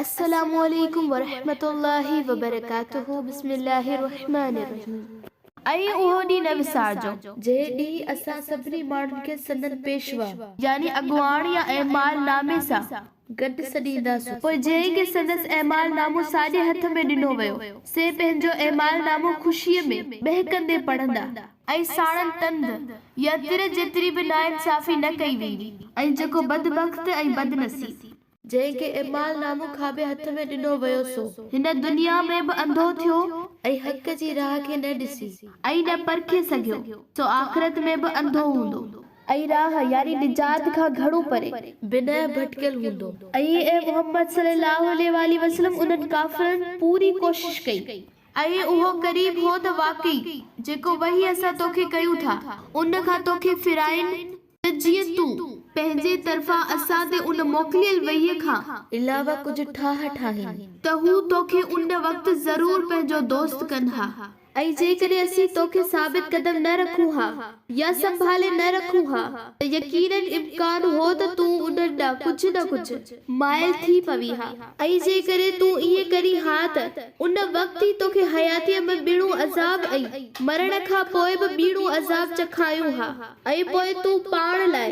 السلام عليڪم ورحمة الله وبرڪاته بسم الله الرحمن الرحيم ۽ اهو ڏينهن نه وسارجو. جنهن ڏينهن اسان سڀني ماڻهن کي سندن پيشوا. يعني اڳواڻ يا اعمال نامي سان. گڏ سڏينداسون. پوء جنهن کي سندس اعمال نامو ساڄي هٿ ۾ ڏنو ويو، سي پنهنجو اعمال نامو خوشيء ۾، ٻهڪندي پڙهندا. ۽ ساڻن تند يا تر جيتري به ناانصافي نه ڪئي ويندي. ۽ جيڪو بدبخت ۽ بدنصيب. جنهن کي اعمال نامو کاٻي هٿ ۾ ڏنو ويو سو. هن دنيا ۾ به انڌو ٿيو. ۽ حق جي راهه کي نه ڏسي. ۽ نه پرکي سگهيو. سو آخرت ۾ به انڌو هوندو. ۽ راهه، يعني نجات، کان گهڻو پري. بنهه ڀٽڪيل هوندو. ۽ اي محمد صلي الله عليه واٰله وسلم انهن ڪافرن پوري ڪوشش ڪئي. اهي اهو قريب هو ته واقعي، جيڪو وحي اسان توکي ڪيون ٿا، ان کان توکي ڦيرائين، ته جيئن تون، پنهنجي طرفان اسان تي ان موڪليل وحيء کان، علاوه ڪجهه ٺاهه ٺاهين. ته هو توکي ان وقت ضرور پنهنجو دوست ڪن ها. ۽ جيڪڏهن اسين توکي ثابت قدم نه رکون ها. يا سنڀالي نه رکون ها ته يقيناً امڪان هو ته تون انهن ڏانهن ڪجهه نه ڪجهه مائل ٿي پوين ها ۽ جيڪڏهن تون ائين ڪرين ها ته ان وقت ئي توکي حياتيء ۾ ٻيڻو عذاب ۽ مرڻ کان پوء به ٻيڻو عذاب چکايون ها ۽ پوء تون پاڻ لاء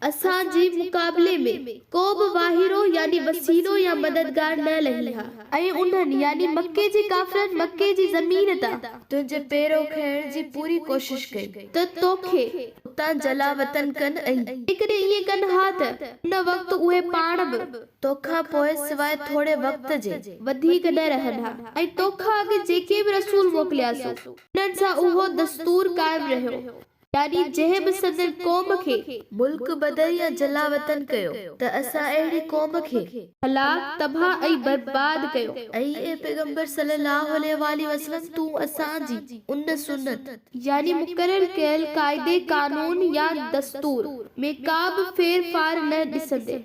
اسان جي مقابلي ۾ ڪو به واهيرو يعني وسيلو يا مددگار نه لهي ها. ۽ انهن، يعني مڪي جي ڪافرن، مڪي جي زمين تان. تنهنجي پيرو کڻڻ جي پوري ڪوشش ڪئي ته توکي. اتان جلاوطن ڪن ۽. جيڪڏهن ائين ڪن ها ته ان وقت اهي پاڻ به. توکان پوء سواء ٿوري وقت جي. وڌيڪ نه رهن ها ۽ توکان اڳ جيڪي به رسول موڪلياسون، انهن سان اهو دستور قائم رهيو. ڏاڏي جنهن به سندن قوم کي. ملڪ بدر يا جلاوطن ڪيو. ته اسان اهڙي قوم کي. هلاڪ، تباهه ۽ برباد ڪيو. اي پيغمبر صلّي اللّٰه عليه واٰله وسلّم تون اسان جي ان سنّت. يعني مقرر ڪيل قاعدي قانون يا دستور. ۾ ڪا به ڦير ڦار نه ڏسندين.